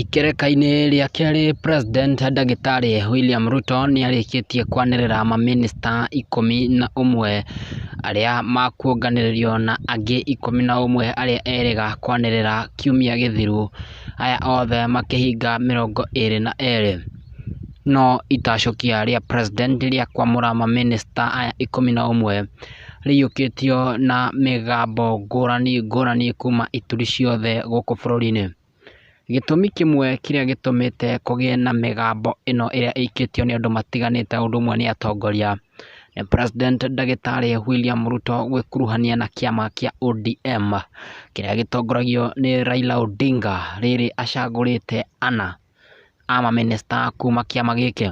Ikerekainĩ rĩa kerĩ president ndagĩtarĩ William Ruto nĩ arĩkĩtie kwanĩrĩra ma minister ikũmi na ũmwe arĩa makuonganĩrĩrio na angĩ ikũmi na ũmwe arĩa erĩga kwanĩrĩra kiumia gĩthiru, aya othe makĩhinga mĩrongo ĩrĩ na erĩ. No itacũkia rĩa president rĩa kwamũra ma minister aya ikũmi na ũmwe. rĩiyũkĩtio na mĩgambo ngũrani ngũrani kuma ituri ciothe gũkũ bũrũri-inĩ. Gĩtũmi kĩmwe kĩrĩa gĩtũmĩte kũgĩe na mĩgambo ĩno ĩrĩa ĩikĩtio nĩ andũ matiganĩte o ũndũ ũmwe nĩ atongoria, nĩ President ndagĩtarĩ William Ruto gwĩkuruhania na kĩama kĩa ODM, kĩrĩa gĩtongoragio nĩ Raila Odinga, rĩrĩ acagũrĩte ana a mamĩnĩsta kuma kĩama gĩkĩ.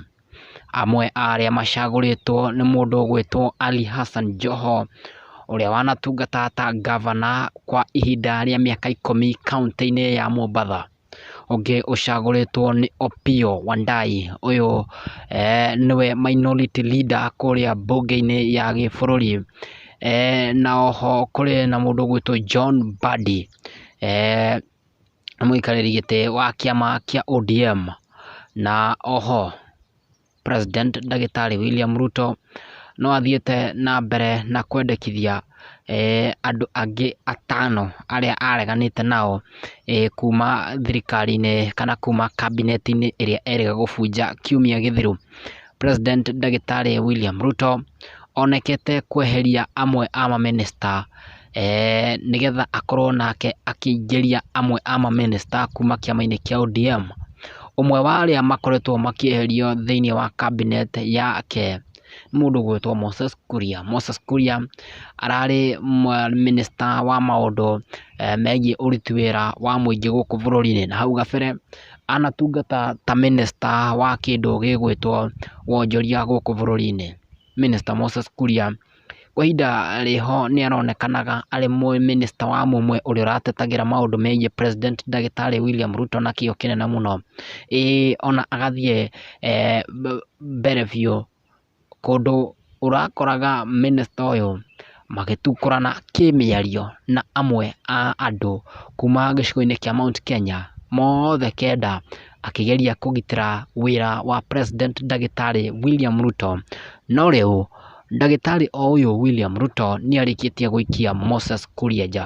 Amwe a arĩa macagũrĩtwo nĩ mũndũ ũgwĩtwo Ali Hassan Joho, ũrĩa wanatungata ta ngavana kwa ihinda rĩa mĩaka ikũmi kauntĩ-inĩ ya Mombatha. Ũngĩ ũcagũrĩtwo nĩ Opiyo Wandayi, ũyũ nĩwe minority leader kũrĩa mbunge-inĩ ya gĩbũrũri. Na oho kũrĩ na mũndũ ũgwĩtwo John Mbadi. nĩ mũikarĩri gĩtĩ wa kĩama kĩa ODM, na oho president ndagĩtarĩ William Ruto no athiĩte na mbere na kwendekithia andũ angĩ atano arĩa areganĩte nao kuma thirikari-inĩ kana kuma kabineti-inĩ ĩrĩa erĩga gũbunja kiumia gĩthiru. President ndagĩtarĩ William Ruto onekete kweheria amwe a mamĩnĩsta eh, nĩgetha akorwo nake akĩingĩria amwe a mamĩnĩsta kuma kĩama-inĩ kĩa ODM. Ũmwe wa arĩa makoretwo makĩeherio thĩinĩ wa cabinet yake nĩ mũndũ ũgwĩtwo Moses Kuria. Moses Kuria ararĩ mĩnĩsta wa maũndũ eh, megiĩ ũruti wĩra wa mũingĩ gũkũ bũrũri-inĩ, na hau gabere anatungata ta mĩnĩsta wa kĩndũ gĩgwĩtwo wonjoria gũkũ bũrũri-inĩ, mĩnĩsta Moses Kuria. Kwa ihinda rĩho nĩ aronekanaga arĩ mĩnĩsta wa mũmwe ũrĩa ũratetagĩra maũndũ megiĩ president ndagĩtarĩ William Ruto na kĩo kĩnene mũno, ĩĩ ona agathiĩ mbere biũ. kũndũ ũrakoraga mĩnĩsta ũyũ magĩtungũrana kĩmĩario na amwe a andũ kuma gĩcigo-inĩ kĩa Mount Kenya, mothe kenda akĩgeria kũgitĩra wĩra wa president ndagĩtarĩ William Ruto. No rĩu ndagĩtarĩ o ũyũ William Ruto nĩarĩkĩtie gũikia Moses Kuria nja.